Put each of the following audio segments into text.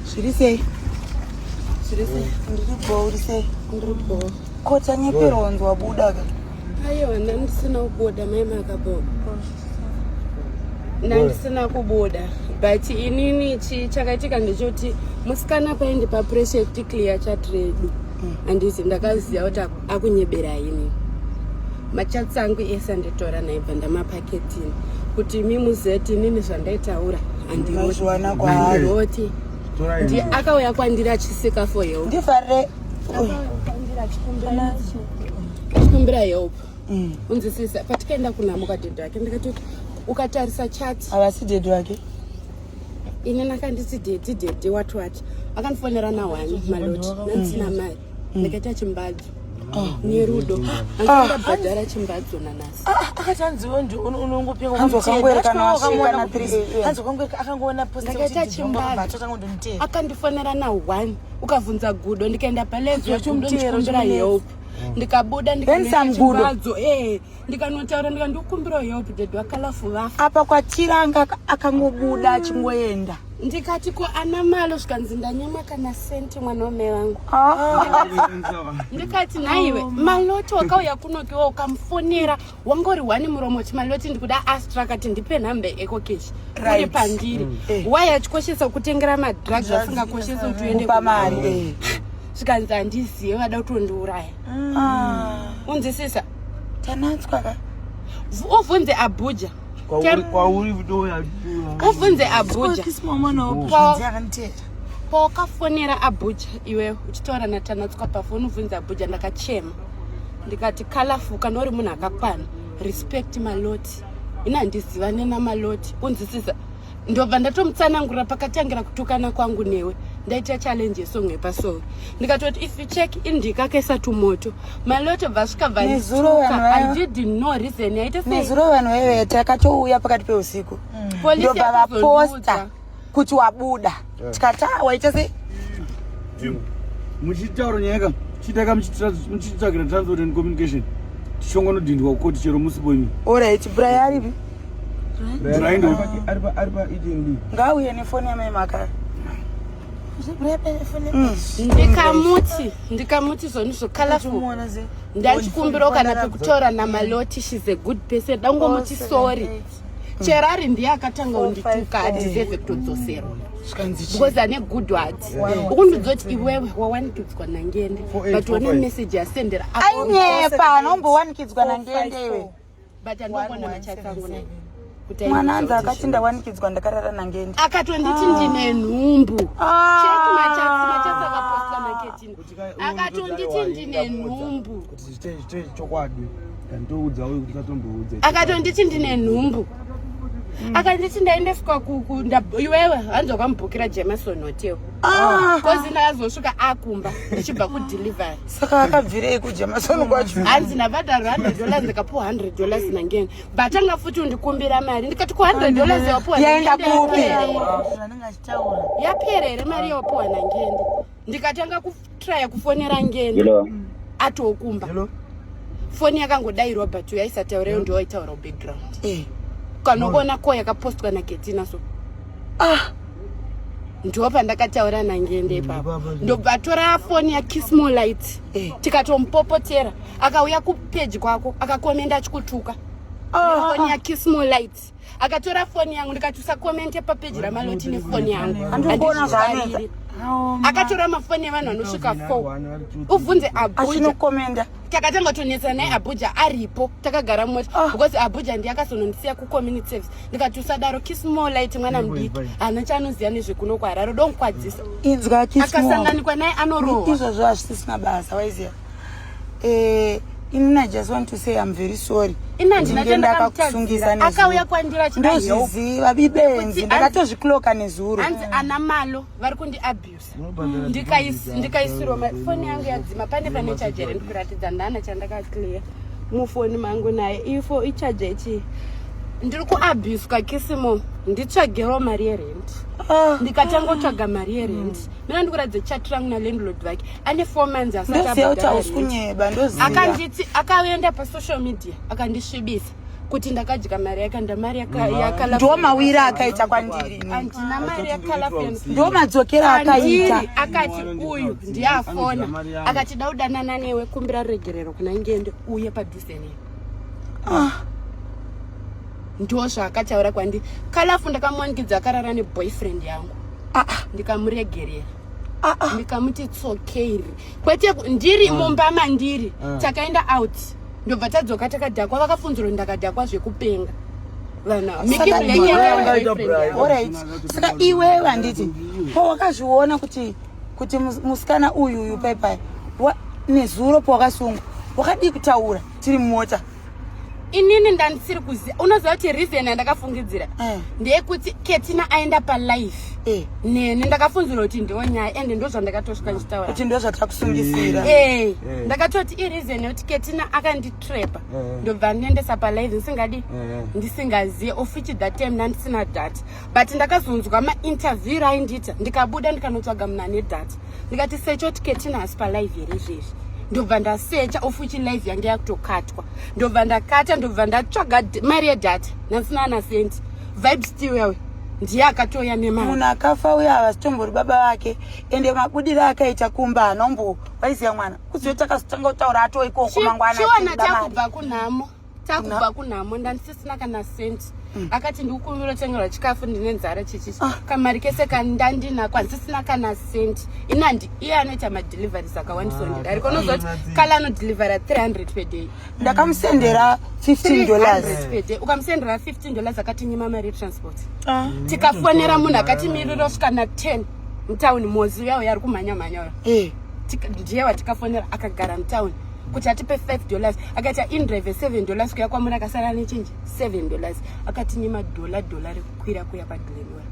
Zviri sei? Zviri sei? Ndiri bho, uri sei? Ndiri bho. Ko tanyepera wanzi wabuda ka? Aiwa, ndandisina kubuda mai makabho. Ndandisina kubuda but inini chakaitika ndechoti musikana paindi papressure yekuti clear chat redu mm. anditi ndakaziva kuti akunyebera ini machats angu ese anditora naibva ndamapa Ketini kuti imi muzeti inini zvandaitaura andiona kwaaroti ndi akauya kwandiri achisika for help ndifare achikumbira help mm. unzisisa patikaenda kunamuka dhedhi wake ndikati ukatarisa chati havasi dhedhi wake ini nakanditi dhedhi dhedhi wati wati akandifonera nawani maloti nanzina mai mm. ndakaita chimbadzo ah. nerudo andibhadhara ah. chimbadzo nanasi ah, akati hanziwo ndi unongopingakangoona ndakaita chimbadzo akandifonera na one ukavhunza gudo ndikaenda palezo ndikumbira help mm. ndikabuda ndikaita chimbadzo ee eh. ndikanotaura ndika ndikumbirawo help dad vakalafu vafa apa kwatira anga akangobuda achingoenda ndikati ko ana malo zvikanzi ndanyama kana senti mwana wamai vangu ah. ndikati nhaiwe oh. maloti wakauya kunokiwa ukamufonera wangori wani muromo ti maloti ndikuda astra akati ndipe nhambe ekokeshi uri pandiri mm. eh. wai achikoshesa kutengera madrugs asingakoshesa kuti uende pamari eh. zvikanzi handizive vada kutondiuraya mm. ah. unzisisa Tanatswa ka. Uvunze Abuja. Kwauri kwauri vidoya. Uvunze Abuja. Kisimama na Abuja ante. Pawakafonera Abuja iwe uchitaura na Tanatswa pafoni uvunze Abuja ndakachema. Ndikati colorful kana uri munhu akakwana. Respect maloti. Ina ndizivane na maloti. Unzisiza. ndobva ndatomutsanangurira pakatangira kutukana kwangu newe ndaita challenge yesong yepasoro ndikatoti if you check indika kaisa tumoto maloto bva svika bvaizuro vanhu vaive takatouya pakati peusiku mm. ndobva vaposta kuti wabuda eh. tikataa waita sei hmm. muchitaura nyaya ka chitaka muchitsvagira transport and communication tichongonodhindwa kukoti chero musi boimi orit bray aripi ngauye nefoni yamai makara Mm. ndikamuti ndikamuti zvoni zvokalaful ndachikumbirawo kana pekutaura namaloti shes a good person dangomuti sorry cherari ndiye akatanga undituka adiseve kutodzoserwa because ane good word ukundiudza kuti iwewe wawanikidzwa nangende but one message yasendera ainyepa anombowanikidzwa nangende iwe but andoona machatsangu naye mwana anzi akati ndawanikidzwa ndakarara nangende akatonditi ndine nhumbu ah. cheki machatsi machatsi akaposta maketin akatonditi ndine nhumbu chokwadi ndoudza uyu kuti katomboudza akatonditi ndine nhumbu mm. akanditi ndaendeswa iwewe hanzi wakamubhukira jemason hotel kozi ah. ndakazosvika akumba ndichibva kudelivery saka akabvirei kujemason kwacho mm. hanzi ndabhadharo hundred dollars ndikapuwa hundred dollars nangeni but anga futi undikumbira mari ndikati ku hundred dollars yawapuwa yaenda kupi yapera here mari yawapuwa nangeni ndikatanga kutraya kufonera ngeni atokumba Hello? foni yakangodairwa but yaisataura yo ndowaitaura background eh. kanoona ko yakapostwa naketina so ah ndo pandakataura nangende ipapo ndobva atora foni yakismo light eh. tikatompopotera akauya kupeji kwako akakomenda achikutuka ah, foni ah. yakismo light akatora foni yangu ndikati usakomente papeji ramaloti nefoni yangu andizvifariri akatora mafoni evanhu anosvika four ubvunze abujaachinokomenda takatanga tonetsana naye abuja aripo takagara mumota ah. because abuja ndiye akazonondisiya kucommunity service ndikati usadaro kismolite mwana mudiki hana chaanoziva nezvekuno kwahararo donkwadzisa akasanganikwa naye anorowa izvozvo hazvisisina basa waiziva eh, inini i just want to say i'm very sorry ndinge ndakakusungisa nezviziva bibenzi ndakatozvikloka nezuro hanzi ana malo vari kundiabusa ndikaisirwa mafoni yangu yadzima pane pane chajer ndikuratidza ndana chandakaclear mufoni mangu naye ifo ichaja ichii ndiri kuabuswa kisimo nditsvagero mari yerent ah. ndikatangotsvaga mari yerent mina ndikuratidza chat rangu nalandlord vake ane four months asatiakanditi akaenda pasocial media akandisvibisa kuti ndakadya mari yake ndamari yakandiwo mawiri akaita kwandiri handina mari yakalafndo madzokera akaita akati uyu ndiye afona akati da udanana newe kumbira ruregerero kuna ngende uye padhuze newe ah. ndo zvaakataura kwandiri kalafu ndakamuwanikidza akarara neboyfriend yangu ah, ah. ndikamuregerera ah, ah. ndikamuti tsokeiri kwete ndiri ah. mumba mandiri ah. takaenda out ndobva tadzoka takadhakwa vakafunzirwa ndakadhakwa zvekupenga saka iwewe handiti pawakazviona kuti kuti musikana uyu uyu paipai nezuro pawakasungwa wakadii kutaura tiri mumota inini ndandisiri kuziva unoziva kuti reason yandakafungidzira eh. ndeyekuti ketina aenda palife eh. neni ndakafunzira kuti ndiwo nyaya ende ndo zvandakatosvika ndichitaura kuti ndo zvatakusungisira eh. ndakatoti ireason yekuti ketina akanditrapa ndobva ndiendesa palife ndisingadi ndisingazive ofichi that time ndandisina data but ndakazonzwa mainterview raindiita ndikabuda ndikanotsvaga munhu ane data ndikati secho tiketina hasi palive here zvezvi ndobva ndasecha ofuchi live yange yakutokatwa ndobva ndakata ndobva ndatsvaga mari yedata nansina ana senti vibe stiwewe ndiye akatouya nemari munhu akafa uye havasitombori baba vake ende mabudire akaita kumba hanombo waiziva mwana kuziva takazotanga kutaura atoikoko mangwana chiona takubva kunhamo takubva kunhamo ndandisisina kana cent mm. akati ndikukumbira utengerwa chikafu ndine nzara chichichi ah. kamari kese kandandinako handisisina kana cent inandi iye anoita madeliveries akawandisa ah, ndidariko unozoti kala anodelivery 300 per day ndakamusendera 15 dollars per day ukamusendera 15 dollars akatinyima mari yetransport ah. mm. tikafonera munhu akatimirira osvika na 10 mutown mozi uya uya ari kumhanya mhanya uya eh. ndiye watikafonera akagara mutown kuti atipe 5 dollars akati indrive 7 dollars kuya kwamuri akasara nechenji 7 dollars akati nemadhola dhola rekukwira kuya padhlenora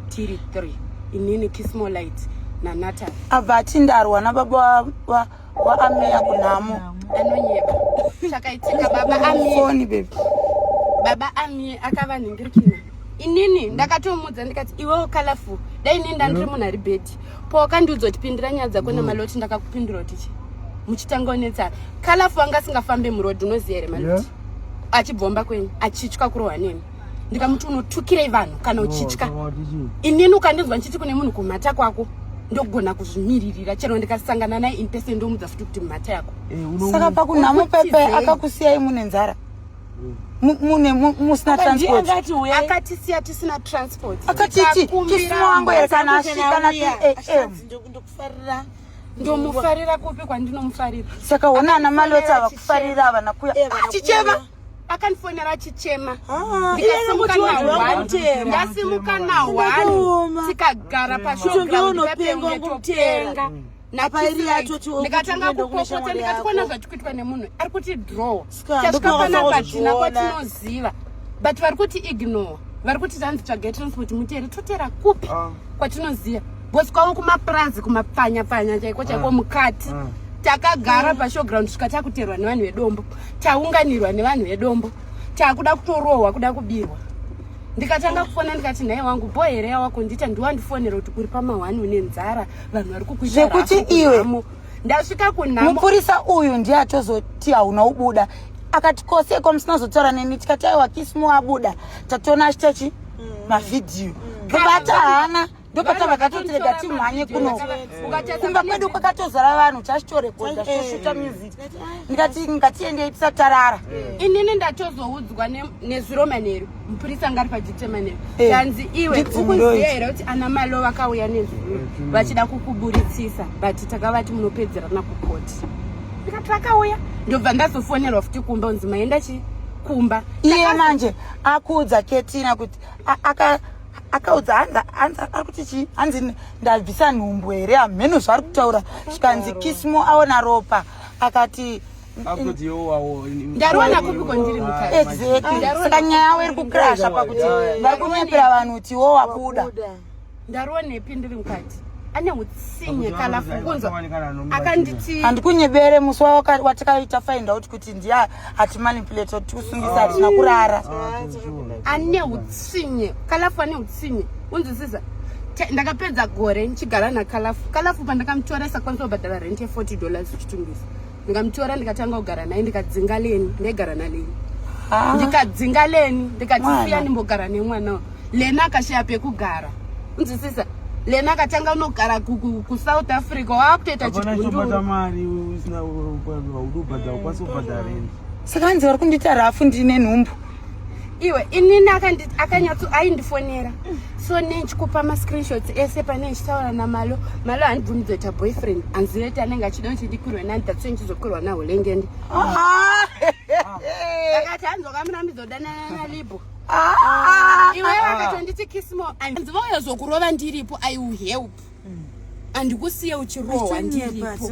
tiri 3 inini kismolight nanata abva atindarwa nababa waameya kunhamo anonyeba zvakaitika baba amifoni bebi baba amie akava nhingirikina inini ndakatomudza ndikati iwewo colorful dai nenda ndiri munhu ari bhedhi ko wakandiudza kuti pindira nyaya dzako mm. nemaloti ndakakupindura kuti chi muchitanga unetsana kalafu wanga asingafambe muroad unoziva here maloti yeah. achibvomba kwenyu achitya kurohwa nemi ndikamuti unotukirei vanhu kana oh, uchitya inini ukandinzwa ndichiti kune munhu kumhata kwako ndogona kuzvimiririra chero ndikasangana naye in person ndomudza futi kuti mhata yako eh, saka pakunhamupepe akakusiyai mune nzara mune musina transport akatisiya tisina transport akatiti tisiwango here kana asvika na 3 am ndokufarira ndomufarira kupi kwandinomufarira saka ona ana malota ava kufarira ava nakuya achichema ah, akandifonera achichema ah, ndasimuka na1 tikagara pashogaunopengwa ndikatanga kupopota ndikati kona zvatiri kuitwa nemunhu ari kuti draw chatikapanabatina kwatinoziva but vari kuti ignore vari kuti tanzi tsvage transport mutere totera kupi ah. kwatinoziva bcause kwavo kumapurazi kumapfanya pfanya chaiko chaiko ah. mukati ah. takagara pashowground svika takuterwa nevanhu vedombo taunganirwa nevanhu vedombo takuda kutorohwa kuda kubirwa ndikatanga kufona ndikati nhai wangu bho here yawako ndiita ndiwandifonera kuti uri pamahwani une nzara vanhu vari kukuita zvekuti iwe ndasvika kunhamo mupurisa uyu ndiye atozoti hauna ubuda akati koseko musina zotaura neni tikati aiwa kisimo abuda tatoona achitachi mm. mavhidhiyo mm. ndobata hana ndopata vakatotirega timhanye kuno kumba kwedu kwakatozara vanhu chachitorekodha choshuta music ndikati ngatiendei tisatarara inini ndatozoudzwa nezuro manheru mupurisa ngari padetermine eh, zvanzi iwe ukuziva here kuti ana malo vakauya nezvuru vachida kukuburitsisa but takavati munopedzerana kukoti ndikati vakauya ndobva ndazofonerwa futi kumba unzi maenda chi kumba iye manje akuudza ketina kuti akaudza ari kuti chii hanzi ndabvisa nhumbu here hamheno zvaari kutaura zvikanzi kismo aona ropa akati ndaroona kupi kwandiri mukaisaka nyaya yavo iri kukrasha pakuti vari kunyepera vanhu kuti wo wabuda ndaroonepi ndiri mukati ane utsinye kana fukunzo akanditi handikunyebere musi watakaita find out kuti ndiye atimanipulate tikusungisa hatina kurara ane utsinye kalafu ane utsinye unzwisisa ndakapedza gore ndichigara nakalafu kalafu pandakamutoresa kwanisa kubhadhara rent ye 40 dollars chitungisa ndikamutora ndikatanga kugara naye ndikadzinga leni ndaigara naleni ah. ndikadzinga leni ndikati siya ndimbogara nemwana lena akashaya pekugara unzwisisa lena akatanga unogara kusouth africa waakutoita chigundusaka anzi vari kundita rafu ndine nhumbu iwe inini akanyatso aindifonera so nechikupa mascreenshots ese pane ndichitaura namalo malo handibvumi kuzoita boyfriend anzireti anenge achida kuti ndikurwe nani tatso ndichizokurwa naho lengende ah! akati hanzokamunambizodanana nalibo ah! ah! iwe vakatonditi kismo anzi vauya zokurova ndiripo i will help andikusiye uchirohwa ndiripo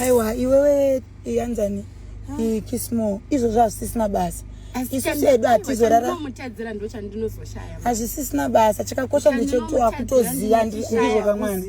aiwa iwewe iyanzani iyi kismo izvozvo hazvisisina basa isusu edu hatizoraraamutadzira ndo chandinozoshaya hazvisisina basa chakakosha ndechekuti wakutoziva ndizvo kamwana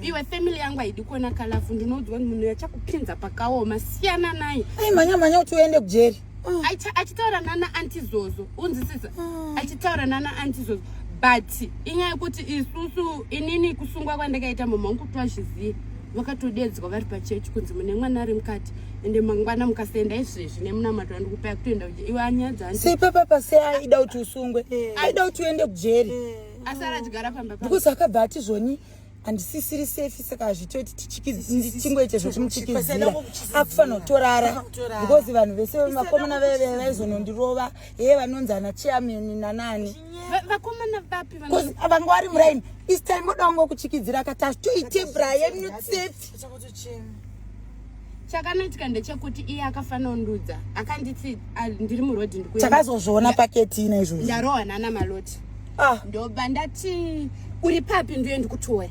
iwe family yangu haidi kuona kalafu ndinoziva munhu yachakupinza pakaoma siyana naye aimhanya mhanya kuti uende kujeri oh. achitaura nana anti zozo unzisisa oh. achitaura nana anti zozo but inyaya yekuti isusu inini kusungwa kwandakaita mama wangu kuti vazvizive vakatodedzwa vari pachechi kunzi mune mwana ari mukati ende mangwana mukasaenda izvezvi nemunamato andikupai kutoenda kuja iwe anyaya dzanti sei papapa sei aida kuti usungwe eh. aida kuti uende kujeri eh. asi aratigara pamba because akabva atizvoni handisisiri safe saka hazvitoiti tichingoite zvekumutyikizira akufanira kutorara because vanhu vese vakomana veve vaizonondirova heye vanonzi ana chairman nanani vanga vari muraini this time oda wangokutyikizira akati hazvitoite brian not safe chakanoitika ndechekuti iye akafanondudza akanditi ah, ndiri muroad ndikutakazozviona paketina izvozvo ndarohwa nana maloti ah. ndoba ndati uri papi ndiye ndikutoya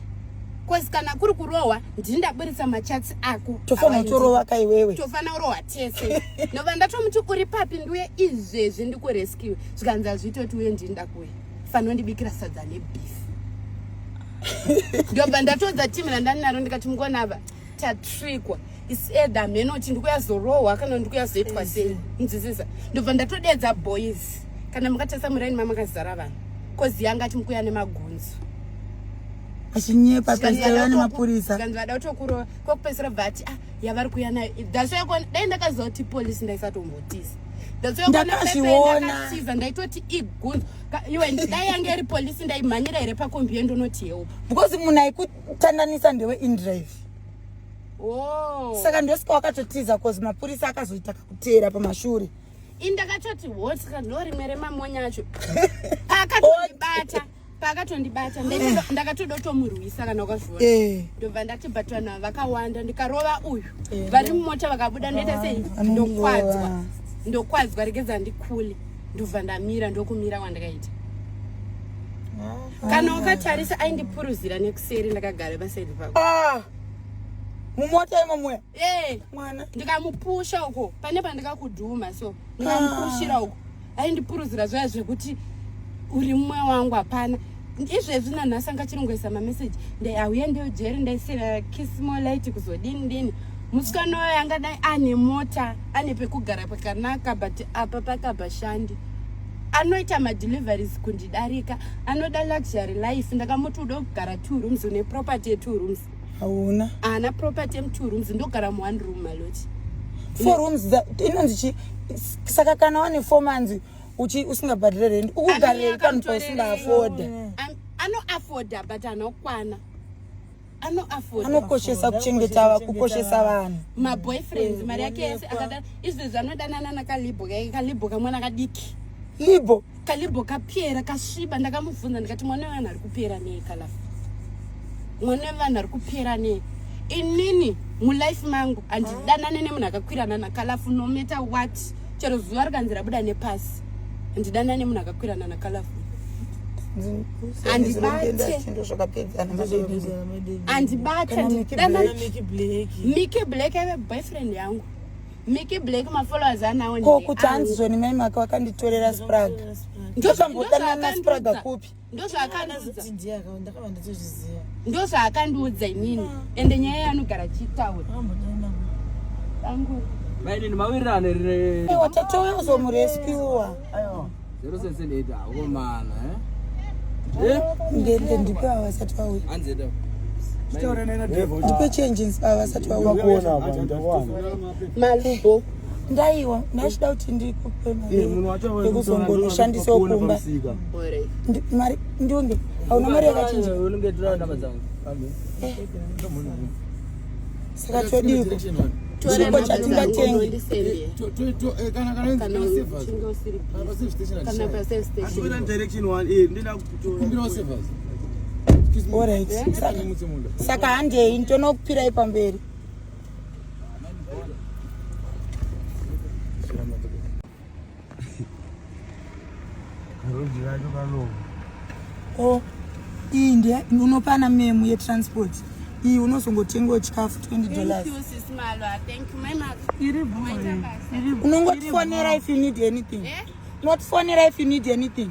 bcause kana kuri kurohwa ndini ndaburitsa machatsi ako tofanira kutorova ka iwewe tofanira kurohwa tese nova ndatomuti uri papi ndiuye izvezvi ndikurescue zvikanzi azvitoti uye ndini ndakuya fanira ndibikira sadza nebeef ndobva ndatodza timu randani naro ndikati mukona ava tatrikwa is either mheno kuti ndikuyazorohwa kana ndikuyazoitwa sei nzwisisa ndobva ndatodeedza boys kana mukatesa muraini mamakazara vanhu kozi yanga ati mukuya nemagunzu achinyepa paisaia nemapurisa kanzi vada kutokurova kwekupedzisira bva ati ah yavari kuya nayo that's why dai ndakaziva kuti polisi ndaisatombotisa ndakazviona ndaitoti igunzo iwe ndaiyange iri polisi ndaimhanyira here pakombi yendonoti help because munhu kutandanisa ndewe indrive oh. saka ndosika wakatotiza cause mapurisa akazoita kakuteera pamashure indakatoti wotya ndorimwe remamonya acho paakatondibata paakatondibata ndakatoda kutomurwisa kana ukazviona eh. ndobva ndati but vanhu ava vakawanda ndikarova uyu eh. vari mumota vakabuda ndoita sei ndokwadzwa ndokwadzwa regedza ndikule ndobva ndamira ndokumira wandakaita kana ukatarisa aindipuruzira nekuseri ndakagara pasaidi pako ah! mumota imomwe eh! mwana ndikamupusha uko pane pandikakudhuma so ndikamupushira uko aindipuruzira zvaya zvekuti uri mumwe wangu hapana izvezvi nanhasi anga chiringoisa mameseji ndai auya ndiyo jeri ndaisira kismolite kuzodini dini musikana wayo anga dai ane mota ane pekugara pakanaka but apa pakabashandi anoita madeliveries kundidarika anoda luxury life ndakamuti uda kugara two rooms une property yetwo rooms hauna haana property yemutwo rooms ndogara muone room maloti four rooms inonzi chi saka kana wane four manzi uchi usingabhadhire rendi ukugarire pano pausingaafodha anoafodha but anokwana anokoshesa kuchengeta va kukoshesa vanhu maboyfriends mari yake yese akada izvezvi anodanana nakalibho kaike kalibho kamwana kadiki libho kalibho kapera kasviba ndakamubvunza ndikati mwana wevanhu ari kupera nei kalafu mwana wevanhu ari kupera nei inini mulife mangu handidanane nemunhu akakwirana nakalafu nometa wati chero zuva rikanzi rabuda nepasi handidana nemunhu akakwirana nakalafu andibatemike black ave boyfriend yangu miki black mafollowers anawo ko kuti hanzi zvoni mai maka wakanditorera spraga ndozvambodanana spraga kupi ndozvaakandiudza ndozvaakandiudza inini ende nyaya yaanogara chitaura mainini mawirirano rewatatoya uzomureskiwa zero sense ndeyita akomana ndende ndipe avasati vauya anzenda ndipe changes avasati vauya malubo ndaiwa ndachida kuti ndikupe mariyekuzongonoshandisawo kumba mari ndiunge hauna mari yakachinja saka todiiko chipo chatingatengi saka handei nditonokupirai pamberi o iyi ndi unopana memu yetransport iyi unozongotengawo chikafu 20 dollars unongotifonera if you need anything eh? unotifonera if you need anything